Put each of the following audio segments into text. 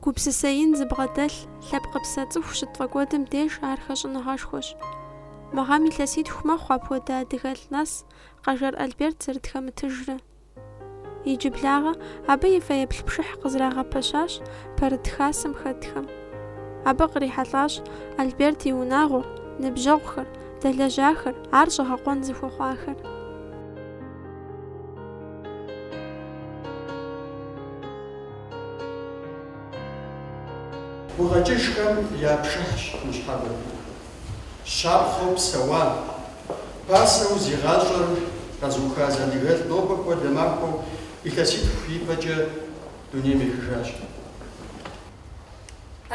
Гупсысэ ин зыбгъэдэлъ лъэпкъыпсэ цӏыху щытфӏэкӏуэдым деж ар хэщӏыныгъэшхуэщ. Мы гъэм илъэситху мэхъу апхуэдэ адыгэлӏ нэс Къэжэр Альберт зэрытхэмытыжрэ. Иджыблагъэ абы и фэеплъ пшыхь къызрагъэпэщащ Пэрыт хасэм хэтхэм. Абы кърихьэлӏащ Альберт и унагъуэр, ныбжьэгъухэр, дэлэжьахэр, ар щӏэгъэкъуэн зыхуэхъуахэр. Гукъэкӏыжхэм я пшыхьщ ныщхьэбэр. щапхъэу псэуа, пасэу зи гъащӏэр къэзыуха зы адыгэлӏ нобэ хуэдэ махуэм илъэситху ипэкӏэ дунейм ехыжащ.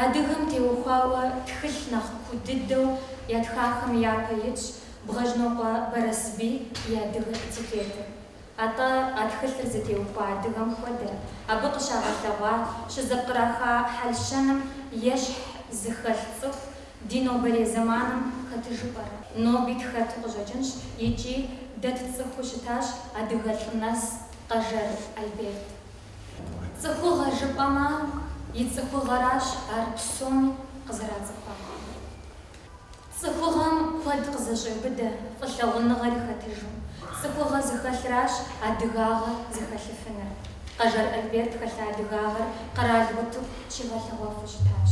Адыгэм теухуауэ тхылъ нэхъ куу дыдэу ятхахэм япэ итщ Бгъэжьнокъуэ Бэрэсбий и адыгэ этикетыр. Атӏэ а тхылъыр зытеухуа адыгэм хуэдэ, абы къыщагъэлъэгъуа, щызэпкъраха хьэл-щэным ещхь зыхэлъ цӏыху Ди нобэрей зэманым хэтыжу пӏэрэ? Ноби тхэту къыщӏэкӏынщ икӏи дэ тцӏыхуу щытащ адыгэ лӏы нэс Къэжэр Альберт. Цӏыхугъэ жыпӏэмэ, и цӏыхугъэращ ар псоми къызэрацӏыхуар. Цӏыхугъэм куэд къызэщӏеубыдэ фӏылъагъуныгъэри хэтыжу, цӏыхугъэ зыхэлъращ адыгагъэ зыхэлъыфынур. Къэжэр Альберт хэлъа адыгагъэр къэрал утыку щигъэлъэгъуэфу щытащ.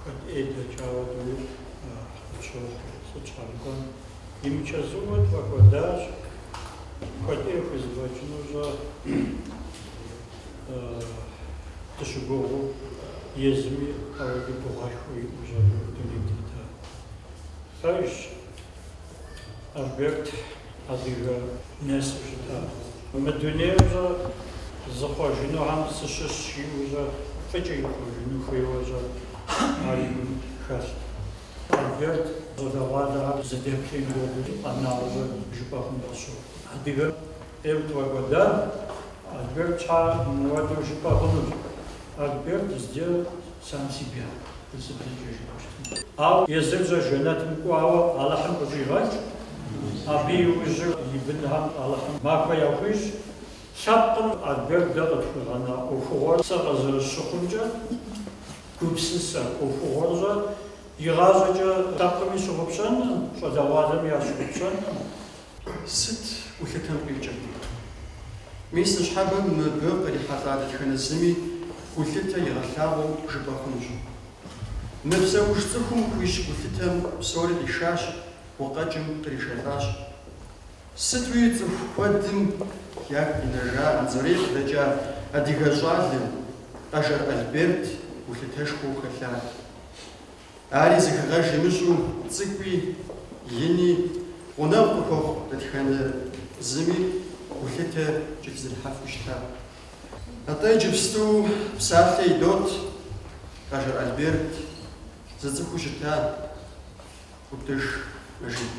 Куэд ӏей дэкӏауэ дунейм къысщохъу сыт щхьэ жыпӏэм имычэзууэ тфӏэкӏуэдащ, куэд ӏей хузэфӏэкӏыну щӏэ дыщыгугъыу езыми ауэдэ гугъэшхуэ иӏэу щӏэ жыпӏэу дунейм тетар пэжщ. Альберт адыгэ нэсу щытащ. Мы дунейр щӏэ зыхъуэжынухэм сыщыщщ жиӏэу щӏэ фӏыкӏэ ихъуэжыну хуейуэ щӏэ ар и лъым хэлът. Альберт щӏалэгъуалэхэр зыдэплъеин хуэдэу къэнауэ жыпӏэ хъуну къысщохъу. Адыгэм ейуэ тфӏэкӏуэдар Альберт щхьэ мыуэдэу жыпӏэ хъунущ. Альберт сделал сам себя урысыбзэкӏэ жыпӏэщтым. Ауэ езыр щӏэ жэнэтым кӏуауэ Алыхьым къыщӏигъэкӏ, абы иужьыр и бынхэм Алыхьым махуэ яхуищӏ. Лъэпкъым Альберт дэ къытхуигъэна ӏуэхугъуэр сэ къызэрысщыхъумкӏэ гупсысэ, ӏуэхугъуэр щӏэ игъащӏэкӏэ лъэпкъми щыгъупщэнкъым, щӏалэгъуалэми ящыгъупщэнкъым. Сыт гулъытэм къикӏыр? Мис ныщхьэбэм мыбы кърихьэлӏа дэтхэнэ зыми гулъытэ игъэлъагъуэу жыпӏэ хъунущ. Мыпсэуж цӏыхум хуищӏ гулъытэм псори къишащ, гукъэкӏым къришэлӏащ. Сытуи цӏыху куэдым ягу къинэжа Анзорей къыдэкӏа адыгэ щӏалэм, Къэжэр Альберт, гулъытэшхуэ хэлъат. Ари зэхэгъэж имыщӏу цӏыкӏуи, ини, гъунэгъу къыхуэхъу дэтхэнэ зыми гулъытэ кӏэлъызэрихьэфу щыта. Атӏэ иджыпсту псалъэ идот Къэжэр Альберт зыцӏыхуу щыта Ӏутӏыж Мэжид.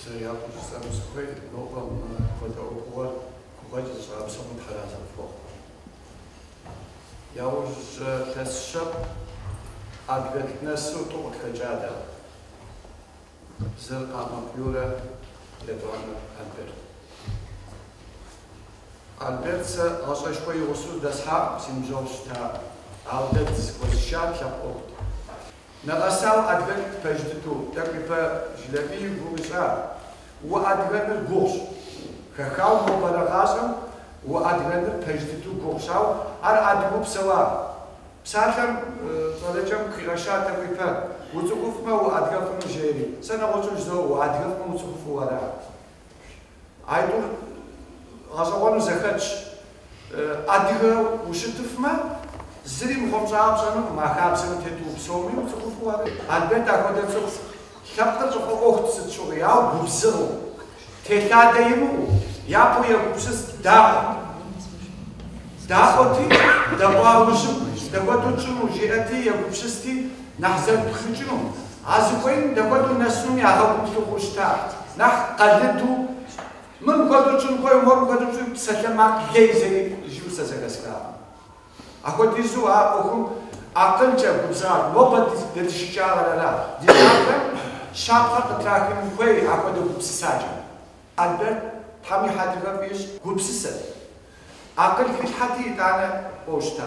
Сэ япэу жысӏэну сыхуейр, нобэ мыпхуэдэ ӏуэхугъуэр гукъэкӏ зыщӏа псоми Тхьэр арэзы къыфхухъу. Яужь илъэс щэщӏ адыгэлӏ нэсу тӏу къытхэкӏа дэ. Зыр Къалмыкъ Юрэ, етӏуанэр Альберт. Альберт сэ гъащӏэшхуэ и гъусэу дэсхьакъым, си ныбжьэгъу щытакъым. Ауэ дэ дызэхуэзышар лъэпкъ ӏуэхут. Нэгъэсауэ уадыгэныр пэж дыдэу, тӏэкӏу ипэ Жылэбий и гугъу ищӏа, уадыгэныр гугъущ. Хэхауэ нобэрей гъащӏэм уадыгэныр пэж дыдэу гугъущ, ауэ ар адыгэу псэуа. Псалъэм щӏалэкӏэм къыхигъэща тӏэкӏу ипэ, уцӏыхуфмэ, уадыгэфыну жери. Сэ нэгъуэщӏу жызоӏэ, уадыгэфмэ, уцӏыхуфу ара. А тӏур гъэщӏэгъуэну зэхэтщ. Адыгэу ущытыфмэ, зыри мыхъумыщӏагъэ пщӏэнукъым, а хабзэм утету упсэумэ, уцӏыхуфу ара. Альберт ахуэдэ цӏыху лъэпкъыр къыфӏэӏуэхут сыт щыгъуи, ауэ губзыгъэу, телъадэ имыӏэу, япэу егупсыст, да, даӏуэти, дэӏуа ужьым, дапхуэдэу тщӏыну, жиӏэти, егупсысти, Нэхъ зэрыпхыкӏыну, а зыхуейм дапхуэдэу нэсынум а гъуэгур лъыхъуу щыта, нэхъ къалыду, Мыр мыхуэдэу тщӏын хуей, мор мыхуэдэу тщӏы псалъэмакъ лей зэи, жиӏэу сэ зэхэсхакъым. Апхуэдизу а ӏуэхум акъылкӏэ губзыгъат, нобэ ди щыщӏагъэр ара, ди щӏалэм щапхъэ къытрахын хуей апхуэдэ гупсысакӏэ. Альберт, Тхьэм и хьэдрыхэр фӏы ищӏ, гупсысэт. Акъыл хилъхьэти, итӏанэ, кӏуэу щыта.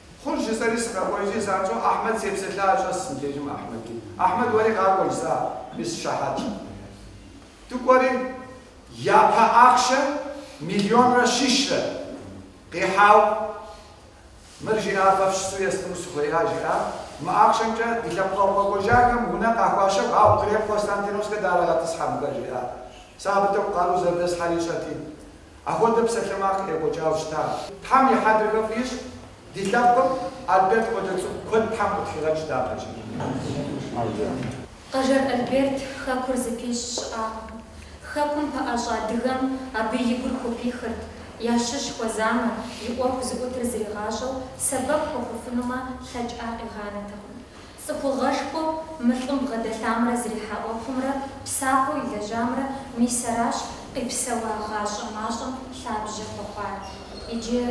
Хъунщ, жысӏэри сыкъэкӏуэжри, занщӏэу Ахьмэд сепсэлъа щыс мыбдежым Ахьмэди. Ахьмэд, уэри къакӏуэ жысӏа, мис щыхьэтщ. Дыкӏуэри, япэ ахъшэ миллионрэ щищрэ къихьау, мыр жиӏа фэ фыщысу естыну сыхуея, жиӏа. Мы ахъшэмкӏэ ди лъэпкъэгъу къэкӏуэжахэм унэ къахуащэху, ауэ Крем-Константиновскэ дарэгъэтӏысхьэ мыхэр, жиӏа. Сэ абы тӏэкӏу къару зэрыдэслъхьэр ищӏэти. Апхуэдэ псалъэмакъ къекӏуэкӏауэ щытащ. Тхьэм и хьэдрыхэр фӏы ищӏ, ди лъэпкъым, Альберт хуэдэ цӏыху куэд Тхьэм къытхуигъэщӏ дяпэкӏи. Къэжэр Альберт хэкур зыпищӏ щыӏакъым. Хэкум пэӏэщӏэ адыгэм абы и гур хупихырт, ящыщ хуэзамэ, и ӏуэху зыӏутыр зригъащӏэу, сэбэп хуэхъуфынумэ лъэкӏ къигъанэтэкъым. Цӏыхугъэшхуэу мы лӏым бгъэдэлъамрэ зрихьа ӏуэхумрэ псапэу илэжьамрэ мис аращ къипсэуа гъащӏэ мащӏэм лъабжьэ хуэхъуар. Иджы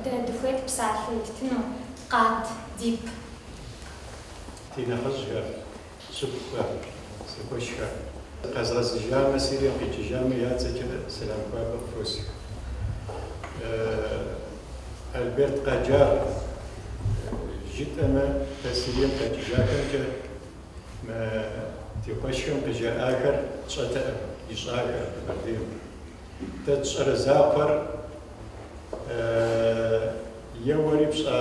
дэ дыхуейт псалъэ иттыну, Къат дип! Ди нэхъыжьхэр, шыпхъухэр, си къуэшхэр! Къэзыгъэзыжамэ, Сирием къикӏыжамэ, я цӏэкӏэ сэлам хуабэ къыхуосх. Альберт Къаджар жытӏэмэ, дэ Сирием къикӏыжахэмкӏэ мы ди къуэшхэм къыжаӏахэр тщӏэтэкъым, ищӏахэр Къэбэрдейм. Дэ тщӏэрэ закъуэр еуэри пщӏа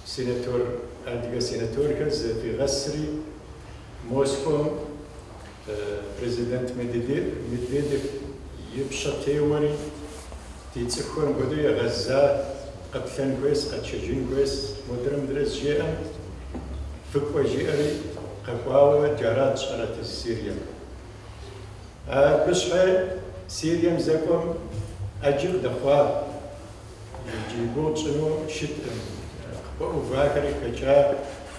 сенатор, адыгэ сенаторхэр зэхуигъэсри Москуэм, Президент Медведев и бжэ теуэри, Ди цӏыхухэм хуэдэу егъэза, къэплъэн хуейс, къэтшэжын хуейс, модрэ мыдрэ зыжеӏэм, фыкӏуэ жиӏэри къэкӏуауэ джарат тщӏэрэт езы Сирием. Абы щхьэ Сирием зэкӏуэм ӏэджи къыдэхъуар. Джы и гугъу тщӏыну щыткъым. Къыпэувахэри хэкӏат,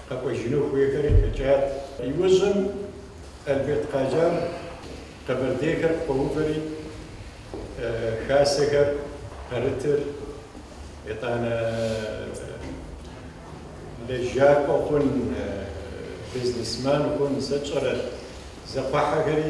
къэкӏуэжыну хуейхэри хэкӏат. Иужьым Альберт Къаджар къэбэрдейхэр къыкъуэувэри, хасэхэр пэрытыр, итӏанэ лэжьакӏуэ хъун, бизнесмен хъун, сэ тщӏэрэ, зэгухьэхэри.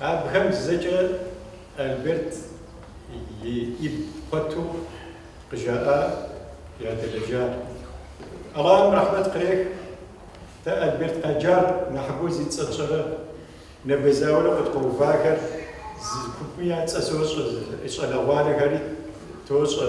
Абыхэм зэкӏэ Альберт и игу пэту къыжаӏар ядэлэжьар. Аллахьым рэхьмэт кърех, дэ Альберт Къаджар нэхъыбэу зи цӏэ тщӏэрэ, нэбэ зауэрэ къыдкъуэувахэр зы купым я цӏэ сощӏэ, зы щӏалэгъуалэхэри тощӏэ.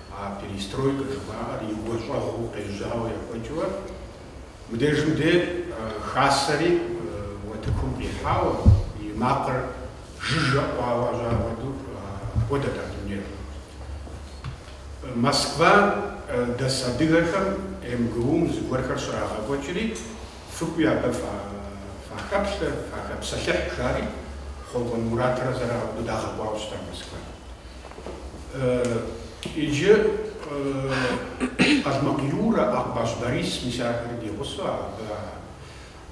А перестройкэ жыхуаӏэр и гуащӏэгъуэу къежьауэ екӏуэкӏыурэ, мыбдежым ди хасэри утыкум къихьауэ, и макъыр жыжьэ ӏуауэ жьагъуэду апхуэдэт а дунейр. Москва дэс адыгэхэм МГУ-м зыгуэрхэр щрагъэкӏуэкӏри, фыкӏуи абы фахэплъэ, фахэпсэлъыхь, жари, Хъуэкӏуэн Муратрэ сэрэ дагъэкӏуауэ щытащ Москвэм. Иджы Къалмыкъ Юрэ, Акъбащ Борис, мис ахэри ди гъусэу абы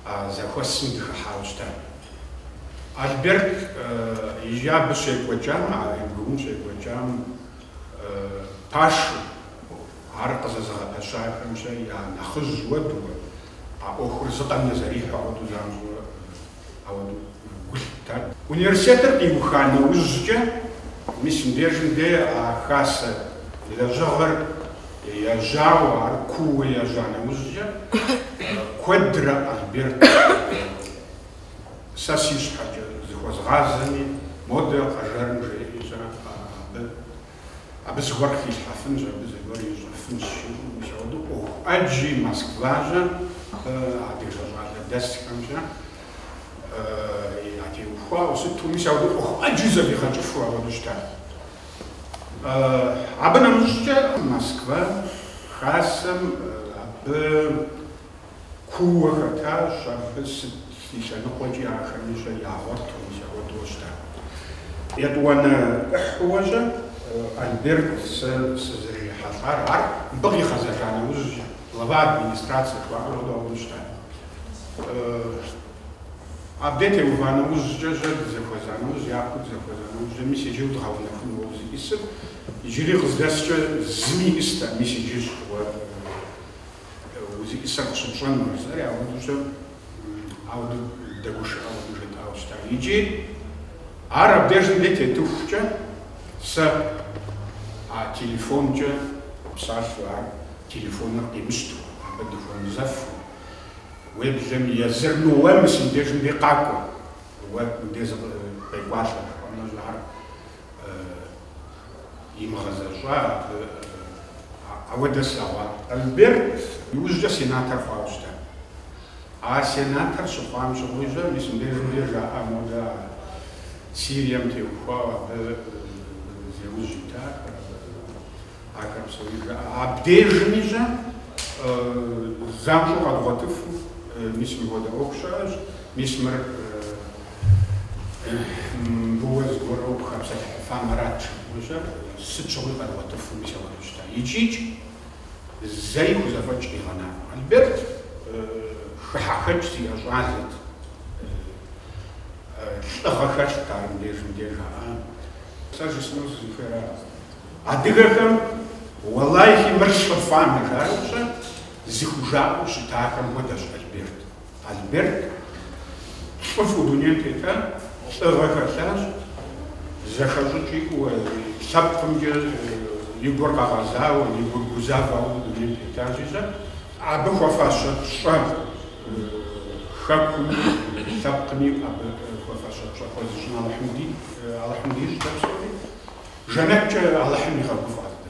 а зэхуэсым дыхыхьауэ щытат. Альберт иджы абы щекӏуэкӏам, а МГУ-м щекӏуэкӏам пашэу, ар къызэзыгъэпэщахэмкӏэ я нэхъыжь хуэдэурэ, а ӏуэхур зыкъомрэ зэрихьэ хуэдэу занщӏэу ауэдэу гу лъыттат. Университетыр къиуха нэужькӏэ, мис мыбдежым де а хасэ лэжьыгъэр ежьауэ, ар кууэ ежьа нэужькӏэ, куэдрэ Альберт сэ си щхьэкӏэ зыхуэзгъазэми, модэ Къэжэрым жеӏи щӏэ абы. Абы зыгуэр хилъхьэфынщ, абы зыгуэр ищӏэфынщ, жиӏэу мис ауэдэу ӏуэху ӏэджи Москва щӏэ адыгэ щӏалэ дэсхэмкӏэ ятеухуауэ сыту, мис ауэдэу ӏуэху ӏэджи зэфӏигъэкӏыфу ауэдэу щытащ. Абы нэмыщӏкӏэ Москва хасэм абы Кууэ хэтащ, абы сыт и лъэныкъуэкӏи ахэми щӏэ ягъуэту, мис апхуэдэу щыта. Етӏуанэ ӏыхьэуэ щӏэ Альберт сэ сызэрырихьэлӏар ар мыбы къигъэзэжа нэужьщ, глава администрацэ хъуауэ щыта. Абдей теува нэужькӏэ, щӏэ дызэхуэза нэужь, япэу дызэхуэза нэужькӏэ, мис иджы удгъэунэхуну уэ узищӏысыр, иджыри къыздэскӏэ зыми иӏыста, мис иджыщ уэ. Узищӏысыр къыщытщӏэнур жытӏэри ауэдэу щӏэ, ауэдэ дыгушыӏэ хуэдэу жетӏауэ щыта. Икӏи ар абдежым де тетыхукӏэ, сэ а телефонкӏэ псалъэу, ар телефоныр къимыщтэу, абы дыхуэмызэфу, уеблэм езыр уэ мы си дежым де къакӏуэ, уэ мыбдеж къекӏуалӏэ, жыпӏэмэ, ар имыгъэзэщӏауэ ауэдэ слъэгъуакъым. Альберт иужькӏэ сенатор хъуауэ щытат. А сенатор щыхъуам щыгъуи щӏэ, мис мыбдежым де жаӏэ модэ ар Сирием теухуауэ абы зи ужь итахэр, ахэр псори жаӏэ. Абдежми щӏэ занщӏэу къэдгъуэтыфу, мис мыуэдэ ӏуэху щыӏэщ, мис мыр Абы уэ зыгуэру укъыхэпсэлъыхьыфамэ арат жыпӏэу щӏэ, сыт щыгъуи къэдгъуэтыфу мис ауэдэу щыта. Икӏи-икӏи, зэи хузэфӏэкӏ къигъэнакъым. Альберт хыхьэхэкӏ зиӏэ щӏалэт, лӏыгъэ хэлът ар мыбдежым де жаӏа. Сэ жысӏэну сызыхуейр ар, адыгэхэм уэлэхьи мыр щыфӏам, жаӏэу пщӏэ, зыхужаӏэу щытахэм хуэдэщ Альберт. Альберт лӏыфӏу дунейм тетащ, лӏыгъэ хэлъащ, зэхэщӏыкӏ иӏэу, лъэпкъымкӏэ и гур къэгъэзауэ, и гур гузавэу дунейм тетащи, сэ, абы хуэфащэ пщӏэ Хэкуми, лъэпкъми абы хуэфащэ пщӏэ хуэзыщӏын Алыхьым дищӏ дэ псори. Жэнэткӏэ Алыхьым игъэгуфӏэ ар дэ.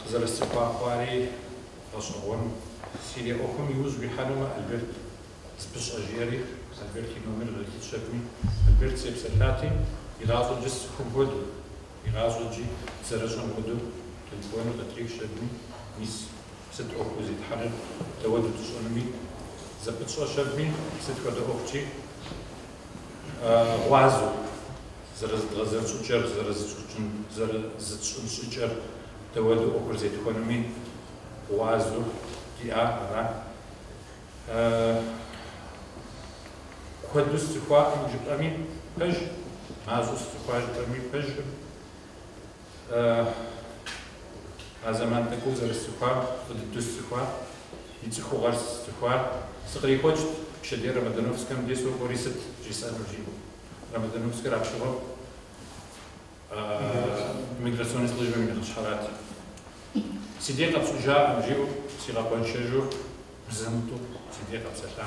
Къызэрысцӏыхуа хъуари гъэщӏэгъуэн. Сирия ӏуэхум иужь уихьэнумэ, Альберт зыпыщӏэ, жиӏэри Альберт и номер къызитщ аби, Альберт сепсэлъати, Игъащӏэкӏи сцӏыхум хуэдэу, игъащӏэкӏи зэрыщӏэм хуэдэу къинкӏуэну къытрихщ аби, мис сыт ӏуэхуу зетхьэри, дауэду тщӏынуми зэпытщӏэщ аби, сыт хуэдэ ӏуэхукӏи? гъуазэу зэрызыдгъэзэн щӏыкӏэр, зэрызытщӏыкӏын, зэрызытщӏын щӏыкӏэр, дауэду ӏуэхур зетхуэнуми гъуазэу диӏар ара. Куэду сцӏыхуакъым жыпӏэми пэжщ, мащӏэу сцӏыхуащ жыпӏэми пэжкъым. А зэман тӏэкӏур зэрысцӏыхуар, фӏы дыду сцӏыхуар, и цӏыхугъэр сцӏыхуар, сыкърихуэкӏт пщэдей Ромодановскэм де сокӏуэри сыт жысӏэнур жиӏэу. Ромодановскэр апщыгъуэм миграционнэ службэм и нэхъыщхьэрат. Си дей къэпщӏыжакъым, жиӏэу сигъэкъуэншэжу зэ мытӏэу си дей къэпсэлъа.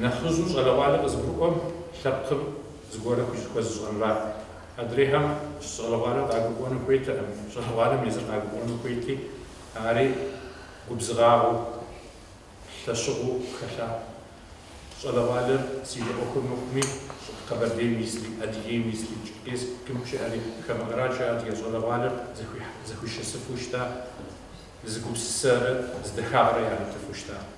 Нэхъыжьу щӏалэгъуалэр къызыгурыӏуэм лъэпкъым зыгуэр хуи хуэзыщӏэнра. Адрейхэм щӏалэгъуалэр къагурыӏуэну хуейтэкъым, щӏалэгъуалэм езыр къагурыӏуэну хуейти, ари губзыгъагъэу, лъэщыгъэу хэлъа. Щӏалэгъуалэр Сирия ӏуэхур мыхъуми, Къэбэрдейм исри, Адыгейм исри, Черкесскым щыӏэри хамэ къэрал щыӏэ адыгэ щӏалэгъуалэр зэхуишэсыфу щыта, зы гупсысэрэ зы дахагъэрэ яритыфу щыта.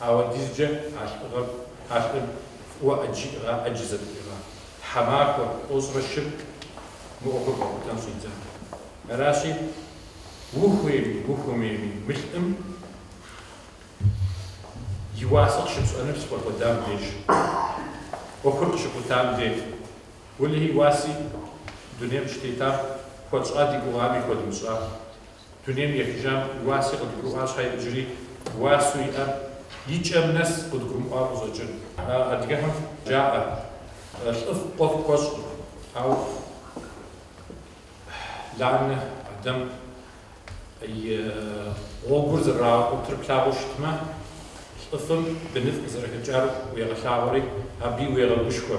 Апхуэдизкӏэ а лӏыгъэр, а лӏыр фӏыуэ ӏэджи иӏыгъа, ӏэджи зэтриӏыгъа, тхьэмахуэ, тӏощӏрэ щырэ мы ӏуэхур къэхутэн щӏидзар. Аращи, ухуейми, ухуэмейми, мы лӏым и уасэ къыщыпщӏэныр щыпфӏэкӏуэдам деж, ӏуэхур къыщыхутам де. Уэлэхьи, и уаси дунейм щытетам хуэтщӏа ди гугъами хуэдмыщӏа, Дунейм ехыжам и уаси къыдгурыӏуа щхьэ иджыри уасэу иӏэр и кӏэм нэс къыдгурымыӏуа къыщӏэкӏын. Адыгэхэм жаӏэ, Лӏыфӏ къуэфӏ хуэщкъым, ауэ Ланэ адэм и гъуэгур зэригъэкӏуатэр плъагъуу щытмэ, лӏыфӏым быныфӏ къызэрыхэкӏар уегъэлъагъуэри, абыи уегъэгушхуэ.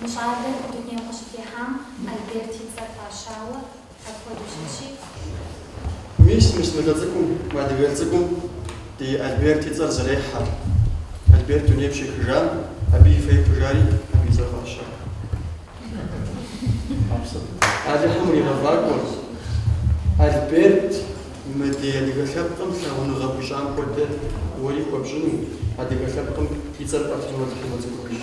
Мы щӏалэр и дунейм къыщытехьам Альберт и цӏэр фӏащауэ апхуэдэу щытщи. Мис, мис, ныбжьэ цӏыкӏум, мы адыгэ цӏыкӏум ди Альберт и цӏэр зэрехьэр. Альберт дунейм щехыжам, абы и фэеплъыжу, абы и цӏэр фӏащауэ. Алыхьым иригъэфӏакӏуэ, Альберт, мы ди адыгэ лъэпкъым лъагъуныгъэ хуищӏам хуэдэ уэри хуэпщӏыну, адыгэ лъэпкъым и цӏэр фӏэфыну Алыхьым уэцӏыхубыж.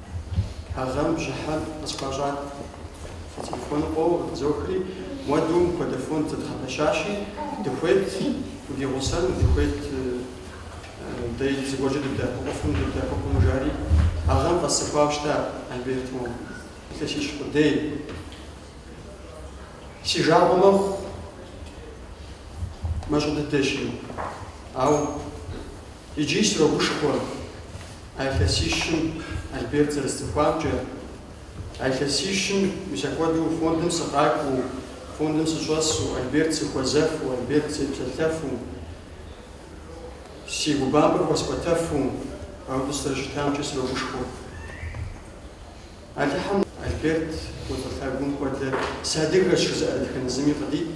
А гъэм бжьыхьэм къысхуащӏат. Си телефоныр къоуэ, къытызохри, Ауэдэу мыпхуэдэ фонд зэдгъэпэщащи, дыхуейт уди гъусэну, дыхуейт дэ зыгуэркӏэ дыбдэӏэпыкъуфыну, дыбдэӏэпыкъуну, жари. А гъэм къэсцӏыхуауэ щытащ, Альберт, мо илъэсищ къудей. Си жагъуэ мэхъу, мащӏэ дыдэщи, ауэ. Иджыри срогушхуэ а илъэсищым Альберт зэрысцӏыхуамкӏэ. А илъэсищым мис апхуэдэу фондым сыкъакӏуэу, фондым сыщӏэсу, Альберт сыхуэзэфу, Альберт сепсэлъэфу, си гум бампӏэр хуэсӏуэтэфу, апхуэдэу сызэрыщытамкӏэ срогушхуэ. Алыхьым Альберт и цӏыхугъэм хуэдэ сыадыгэщ жызыӏэ дэтхэнэ зыми къыдит.